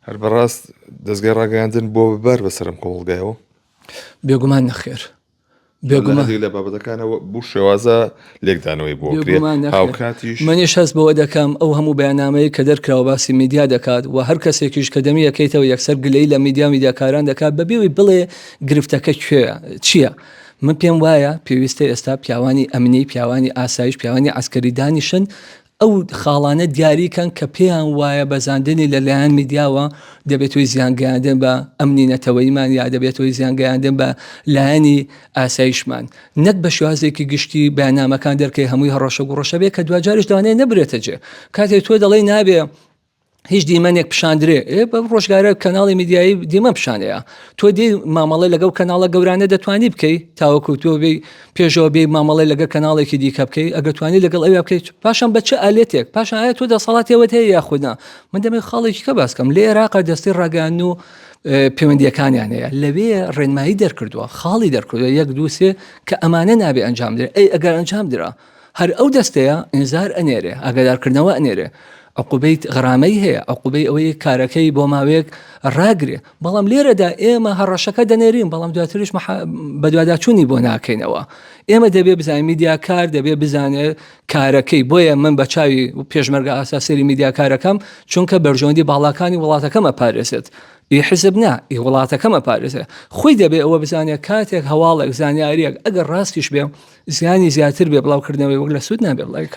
هەر بەڕاست دەزگای ڕاگەیاندن بۆ بەر بەسەرم کۆمەڵگایەوە بێگومان نەخێر بێگومانی لە بابەتەکانەوە بوو شێوازە لێکدانەوەی بۆ هاوکاتی منیش هەست بەوە دەکەم ئەو هەموو بەیانامەیە کە دەرکراوە باسی میدیا دەکات و هەر کەسێکیش کە دەمی یەکەیتەوە یەکسەر گلەی لە میدیا میدیاکاران دەکات بەبێوی بڵێ گرفتەکە کوێ چییە؟ من پێم وایە پێویستە ئێستا پیاوانی ئەمنی پیاوانی ئاسایش پیاوانی ئاسکەری دانیشن ئەو خاڵانە دیاری کەن کە پێیان وایە بەزاندنی لە لایەن میدیاوە دەبێت هۆی زیان گەیاندن بە ئەمنی نەتەوەییمان یا دەبێت هۆی زیان گەیاندن بە لایەنی ئاسایشمان. نەک بە شێوازێکی گشتی بەیاننامەکان دەرکەی هەمووی هەڕەشە گوڕەشە بێت کە دواجاریش دانێ نەبرێتە جێ. کاتێ تۆ دەڵێی نابێ هیچ دیمەنێک پیشاندرێ بە ڕۆژگارە کەناڵی میدیایی دیمە پیشانەیە تۆ دی مامەڵی لەگەڵ کەناڵە گەورانە دەتوانی بکەیت تاوەکو تۆ بێ پێشەوە بێ مامەڵی لەگە کەناڵێکی دیکە بکەیت ئەگەتوانی لەگەڵ ئەویا بکەیت پاشان بە چ ئالێتێک پاشان ئایا تۆ دەسەڵاتەوە هەیە یاخودنا من دەمێ خاڵێکی کە باسکەم لە عێراق دەستی ڕاگەان و پەیوەندیەکانیان هەیە لەوێ ڕێنمایی دەرکردووە خاڵی دەرکردوە یەک دووسێ کە ئەمانە نابێ ئەنجام درێ ئەی ئەگەر ئەنجام درا هەر ئەو دەستەیە ئینزار ئەنێرێ ئاگادار کردنەوە ئەنێرێ عقوبەی غرامەی هەیە عقوبەی ئەوەی کارەکەی بۆ ماوەیەک ڕاگرێ بەڵام لێرەدا ئێمە هەڕەشەکە دەنێرین بەڵام دواتریش بەدواداچوونی بۆ ناکەینەوە ئێمە دەبێ بزانین میدیاکار دەبێ بزانێت کارەکەی بۆیە من بە چاوی پێشمەرگە ئاساسری میدیاکارەکەم چونکە بەرژەوەندی باڵاکانی وڵاتەکەمە پارێزێت ئی حزب نا ئی وڵاتەکەم ئەپارێزێ خۆی دەبێ ئەوە بزانێ کاتێک هەواڵێک زانیاریەک ئەگەر ڕاستیش بێ زیانی زیاتر بێ بڵاوکردنەوەی وەک لە سود نابێ بڵاوی کات.